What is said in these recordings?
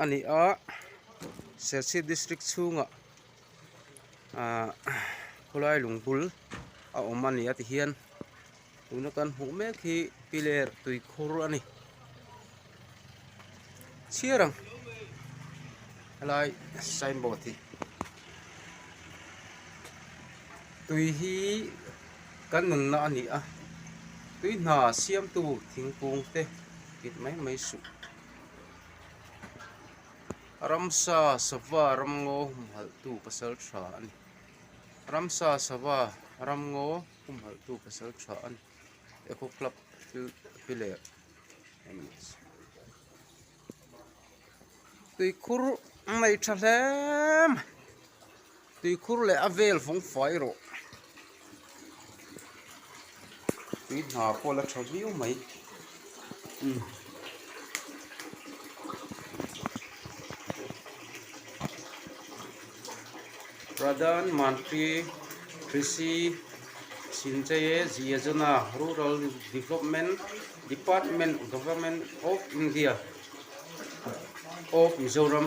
A ni a, Serchhip District chhunga khawlai lung bul a awm a ni a ti hian tuna kan hmuh mek hi piler tui khur a ni chhiar ang helai sign board hi tui hi kan nunna a ni a tui hna siam tu thingkung te kip mai mai suh. Ramsa sava ramngaw humhalhtu pasalṭha a ni. Ramsa sava ramngaw humhalhtu pasalṭha a ni. Echo Club thil pi leh a ni. Tuikhur mai ṭha hle mai. Tuikhur leh a vel fawng fai erawh tui hna pawh la tha viau mai umm. Pradhan Mantri Krishi Sinjaye Yojana Rural Development Department Government of India of Mizoram.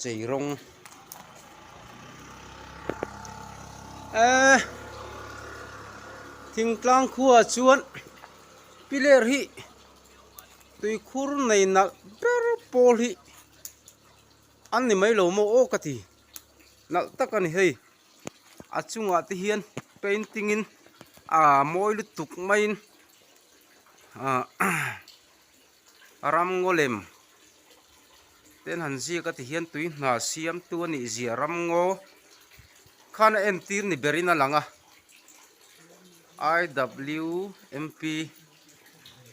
Chei rawng eeh thingtlang khua chuan piler hi tuikhur nei nalh ber pawl hi an ni mai lo maw aw ka ti nalh tak a ni hei a chungah te hian painting in aa mawi lutuk maiin aah A ram ngo lem ten han ziak a ti hian tui hna siamtu a nih ziah ram ngo khan a entir ni ber in a lang a. IWMP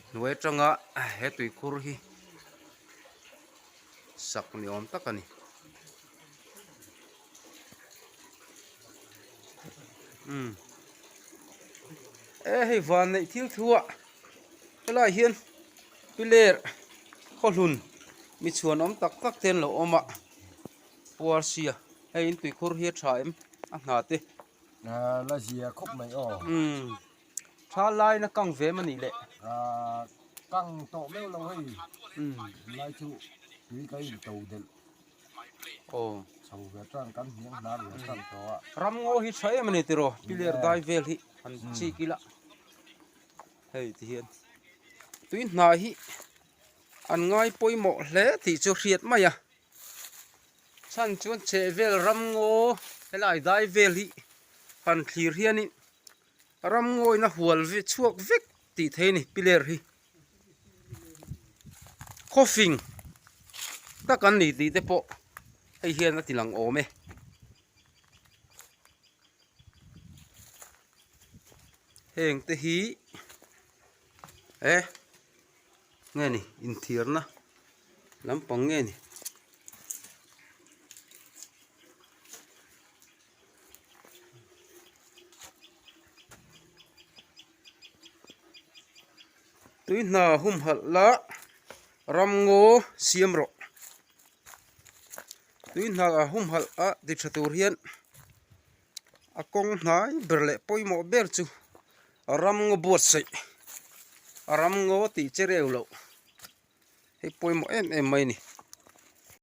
hnuai atanga he tuikhur hi sak ni awm tak a ni. e hei vanneih thil thu ah helai hian piler khawhlun mi chhuan awm tak tak te an lo awm a puarsia hei in tuikhur hi a tha em a hna te tha laina kang ve em anih leh kang tawh meuh lo hei. Aw. Chho ve chuan kan hniang hna reng a tan tawh a. Ram ngaw hi tha em a ni tiraw? Piler dai vel hi han chik ila. Hei ti hian tui hnah hi an ngai pawimawh hle tih chu hriat mai a. Chhan chuan chhehvel ram ngaw helai dai vel hi han thlir hianin. Ram ngawina hual chhuak vek tih theih a ni piler hi coughing tak an ni tih te pawh hei hian a tilang awm e heng te hi eh nge ni inthiarna lampang nge ni. tui hna hum halh la ram ngaw siam rawh tui hna hum halh a ti tha tur hian a kawng hnai ber leh pawimawh ber chu ram ngaw buatsaih a ram ngaw tih che reu loh hei pawimawh em em mai a ni.